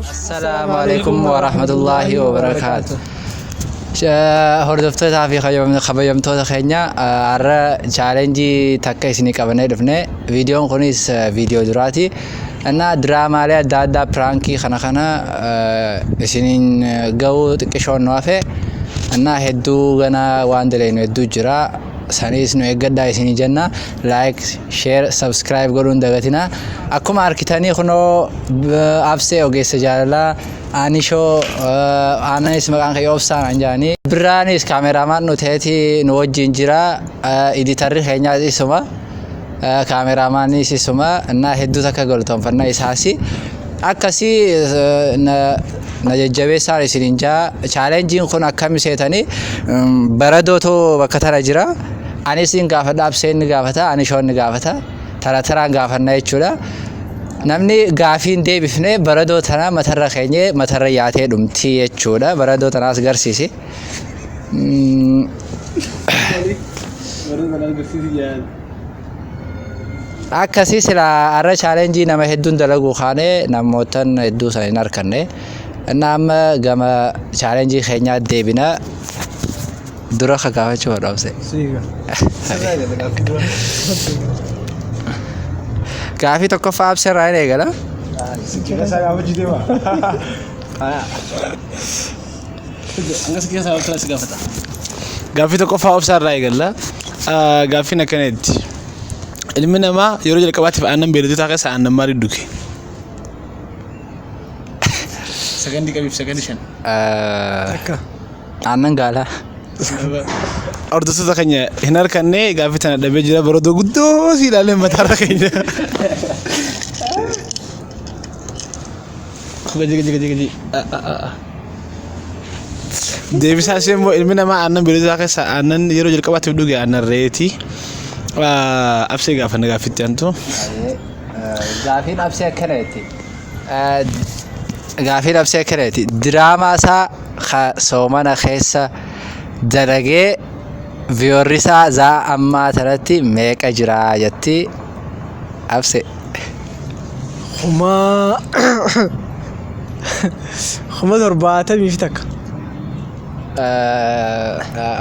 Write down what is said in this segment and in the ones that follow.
Assalaamu alaikum wa rahmatullahi wa barakaatu. Hordoftootaa fi kabajamtoota keenya har'a chaalenjii takka isinii qabannee dhufne. Viidiyoon kunis viidiyoo duraati. Innaa diraamaalee adda addaa piraankii kana kana isiniin ga'uu xiqqishoon nu hafe. Innaa hedduu ganaa waan dalagnu hedduu jira. saniis nu eeggadhaa isinii jenna like share subscribe godhuun dagatina akkuma arkitanii kunoo absee ogeessa jaalalaa aanishoo aananis maqaan kee obsaan an jaanii biraanis kaameraamaan nu ta'eeti nu wajjin jira iditarri keenyaas isuma Kaameraamaanii sisuma naa hedduu takka galtoonfanna isaasi. Akkasi na jajjabeessaan isinin jaa chaalenjiin kun akkami seetanii baradootu bakka tana jira. Ani isin gaafadha abseen ni gaafata ani shoon ni gaafata tara taraan gaafanna jechuudha. Namni gaafiin deebifne baradoo tana matarra keenye matarra yaatee dhumti jechuudha. Baradoo tanaas garsiisi. Baradoo tanaas garsiisi jaan. akkasii silaa har'a chaalenjii nama hedduun dalaguu kaanee namootan hedduu sana hin arkanne innaa amma gama chaalenjii keenyaa deebina dura akka gaafachuu hodhoomse. Gaafii tokkoffaa absee irraa hin eegala. Angas keessaa waan kanas gaafata. Gaaffii tokkoffaa obsaa irraa eegalla. Ah, Gaaffiin akkana jetti. Ilmi namaa yeroo jalqabaatiif aannan beelladotaa keessaa aannan maalii dhuge? Sakandii qabiif sakandii shan. Akka. Aannan gaalaa. Hordoftoota keenya hin harkanne gaaffii tana dhabee jira baroota guddoo si ilaalee mataarra keenya. Gaji gaji gaji gaji. Deebisaa ishee immoo ilmi namaa aannan beeyiladaa keessa aannan yeroo jalqabaatiif dhuge aannan reeti. Absee gaafa na gaaffitti antu. Gaafiin absee akkana jetti. Gaafiin absee akkana jetti. Diraamaa isaa ka soomana keessa dalagee viyoorrisaa zaa ammaa tanatti meeqa jira jetti. Abse. Kuma. Kuma torbaatamii fi takka.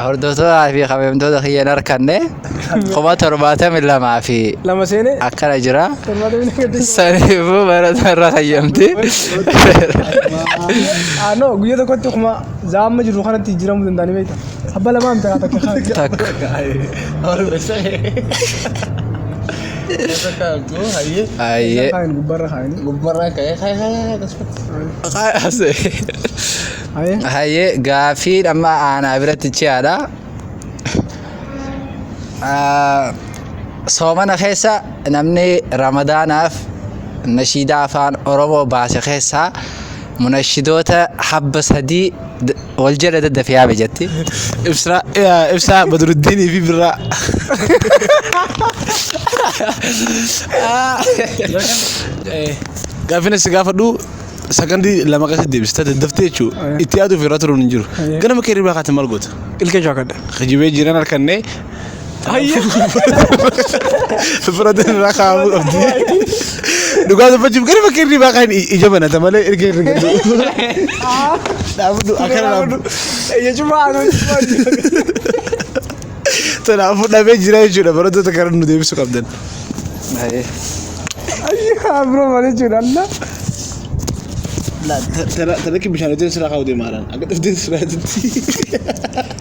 Hordoftoota fi kabajamtoota kiyya hin harkanne kuma torbaatamii lamaa fi Lama seenee. akkana jira. Torbaatamii takka jechuun. Saniifuu barata irra kayyamti. Ah, no, guyyaa tokkotti kuma zaamma jiru kanatti jijjiiramuu danda'anii beektaa? Abba lamaan biraa takka kaan. Takka. Ayyee. Kaan gubbarra kaanii. Gubbarraa ka'ee ka'ee ka'ee akkasumas. Ayee. Hayyee gaafii dhamma aanaa biratti ciyaadha. Ah, Soomana keessa namni ramadaanaaf nashiidaa afaan Oromoo baase keessaa munashidoota habba sadii d- Wal jala daddafi yaabe jatti. Ibsaa eh, ibsaa Badruddiinii fi birraa. Eh, Gaaffiin asi gaafadhu sakandii lama keessatti deebista daddaftee jechuudha. Itti yaaduuf irra turuun hin jiru. Ganama kee hirribaa kaate maal goota? Ilkee shaakadha. Kijibee jiran harkannee Fira irraa kaa'amuu qabdi. Dhugaa dubbachuuf gara bakka irri baaqaan ija banata malee erga irra galu. Dhaabdu akkana dhaabdu. Jechuun maal Kanaafuu dhabee jira jechuudha barattoota gara nu deebisuu qabdan. Ayyaa biroo malee jechuudha Allah. Tana kibbi bishaan hojjetan sirraa kaa'u deemaaran. Akka dhufteen sirraa hojjetti.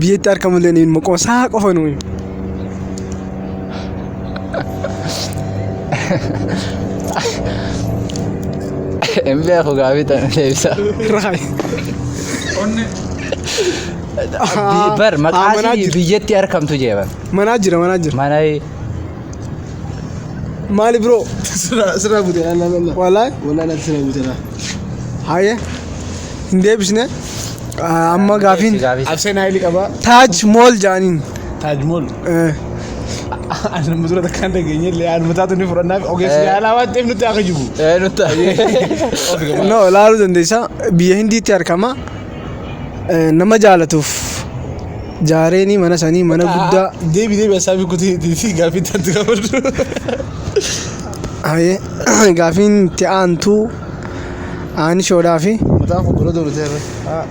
Biyyatti argamu illee ni maqoo isaa qofa nuyi. Hin beeku gaafii tana deebisa. Raay. Onne. Bi- Bar maqaa Ah, manaa isii jira. biyyatti argamtu jeeban. Manaa jira manaa jira. Mana Maali biroo? Sirraa sirraa buteera nama. Walaa. Walaa natti sirraa buteera. Haayee hin deebisne Ah, amma gaafiin Abseen Haayili qabaa. taaj mool jaaniin. Taajmool. Eh, Ani nama dura takka hin dhageenye illee anuma taatu ni fudhannaaf ogeessi yaalaa waan ta'eef nutti akka jibu. Eh, nutti. no ilaaluu dandeessa biyya hindiitti argama Eh, nama jaalatuuf Jaareenii mana sanii mana guddaa. Deebi deebi asaabii kutii fi gaafii taatu gaafadhu. Haye gaafiin itti aantu aanishoodhaa fi Mataa koo bira dooru ta'e. Haa.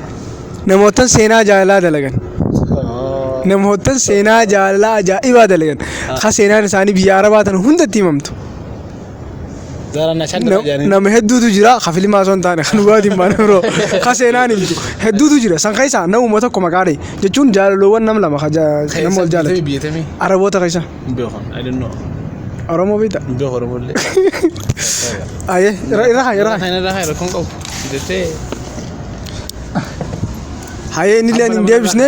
namoottan seenaa jaalalaa dalagan. Namoottan seenaa jaalalaa ajaa'ibaa dalagan. Ka seenaan isaanii biyya Arabaa tan hundatti himamtu. Zara na shan dara jani. Nama hedduutu jira ka filimaa osoo hin taane kan dhugaatiin baane biroo ka seenaan himtu hedduutu jira san keessaa namuma tokko maqaa dhahi jechuun jaalaloowwan nam lama ka ja- nama wal jaalatu Biyyatami. araboota keessa Beekan. I don't know. oromoo beekta Beekan Oromollee. ayee irra irra haa, irra haa. Kan irraa rakkoon qabu. Jettee. hayee inni illee hin deebisne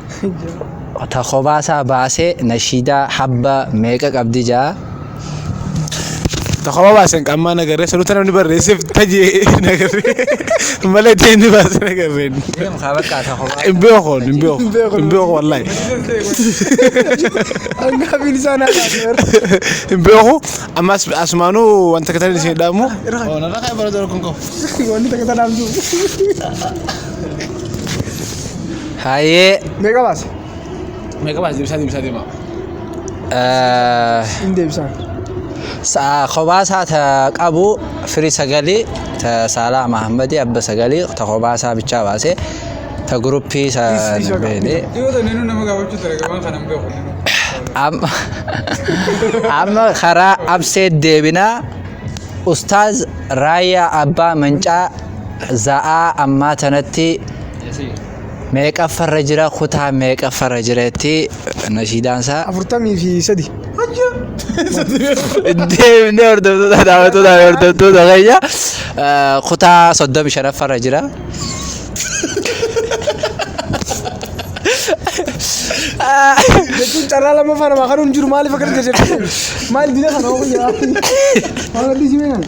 ta kobaasaa baasee nashiidaa habba meeqa qabdi jaa Tokko baasen qammaa nagarree sanuuta namni barreesseef tajee nagarree malee ta'e inni baase nagarree. deemu kaa bakka ta kobaa Hin beeku hin beeku hin beeku wallaahi. Hanga bilisaan haadha. Hin beeku ammas asumaanuu wanta katan isin dhaamu. Wanti takka tanaaf jiru. Hayyee. Meeqa baase? Meeqa baase deebisaa deebisaa deema. Hin deebisaan. Sa'a kophaa isaa ta qabu firii sagalii ta saalaa Mahammadii abba sagalii ta kophaa isaa bichaa baase ta guruppii isa hin beekne. Yoo ta'e ninu nama gaafachuu ture gabaan kana hin beeku. Amma amma karaa abseet deebinaa ustaaz raayyaa abbaa mancaa za'aa ammaa tanatti meeqaffarra jira kutaa meeqaffarra jira itti nashiidaan isaa afurtamii fi sadi deemnee hordoftoota daawwattoota fi hordoftoota keenya eh, kutaa soddomi shanaffarra jira. jechuun carraa lammaffaa namaa kanuun jiru maaliif akka jirtu maal dina kana hoo guyyaa maal addi jimee kana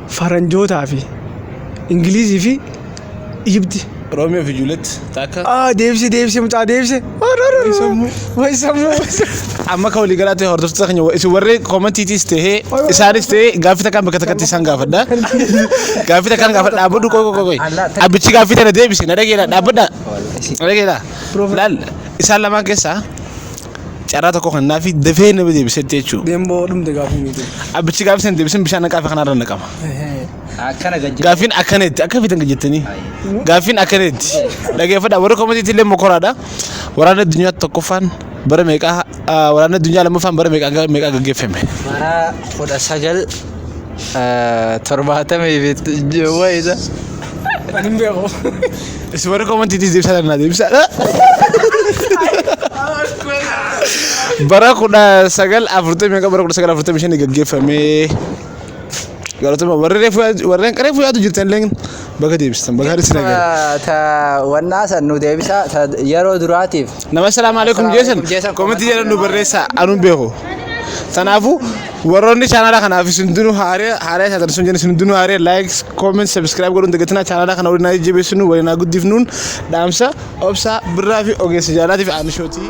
Faranjootaa fi Ingiliizii fi Ijibti. Romeo fi Juliet takka. Ah, deebise deebise mucaa deebise. Way sammuu. Amma akka walii galaatti hordoftoota keenya wa- isin warri koomentiitis ta'ee isaanis ta'ee gaaffii takkaan bakka takkatti isaan gaafadha. Gaaffii takkaan gaafadha dhaabbadhu qoy qoy qoy. Abbichi gaaffii tana deebise na dhageera dhaabbadha. Na dhageera. Laal isaan lamaan keessaa carraa tokko kennaafi dafee nama deebisetti jechuudha. Deemboo dhumte gaafii miiti. Abbichi gaaffii sana deebisan bishaan naqaa fi kanarra naqama. Akkana gajjate. Gaaffiin akkaneetti akka fitan gajjattanii. Gaaffiin akkaneetti dhageeffadha warri koomatiitti illee mokoraadha. Waraanni addunyaa tokkoffaan bara meeqaa ah, waraanni addunyaa lammaffaan bara meeqaa meeqaa gaggeeffame. Bara kudha sagal torbaatamii fi wayita. Ani hin beeku. Isin warri komantiitiis deebisaa danaa deebisaa. Bara kudha sagal afurtamii meeqa bara kudha sagal afurtamii shanii gaggeeffamee. Galatuma warri reefu warreen reefu yaadu jirtan illee bakka deebistan bakka harisi nagaa. Ta wannaa san nu deebisaa ta yeroo duraatiif. Nama salaamu alaikum jeesan Assalaamu alaikum jeesan komantii jedhan nu barreessaa anuun beeku. Kanaafuu Warroonni chaanaalaa kanaaf isin hundinuu haaree haaree isaatan sun jenna isin hundinuu haaree like comment subscribe godhuun dagatinaa chaanaalaa kana waliin haa jajjabeessinu waliin haa guddifnuun dhaamsa obsaa birraa fi ogeessa jaalaatiif aanishootii.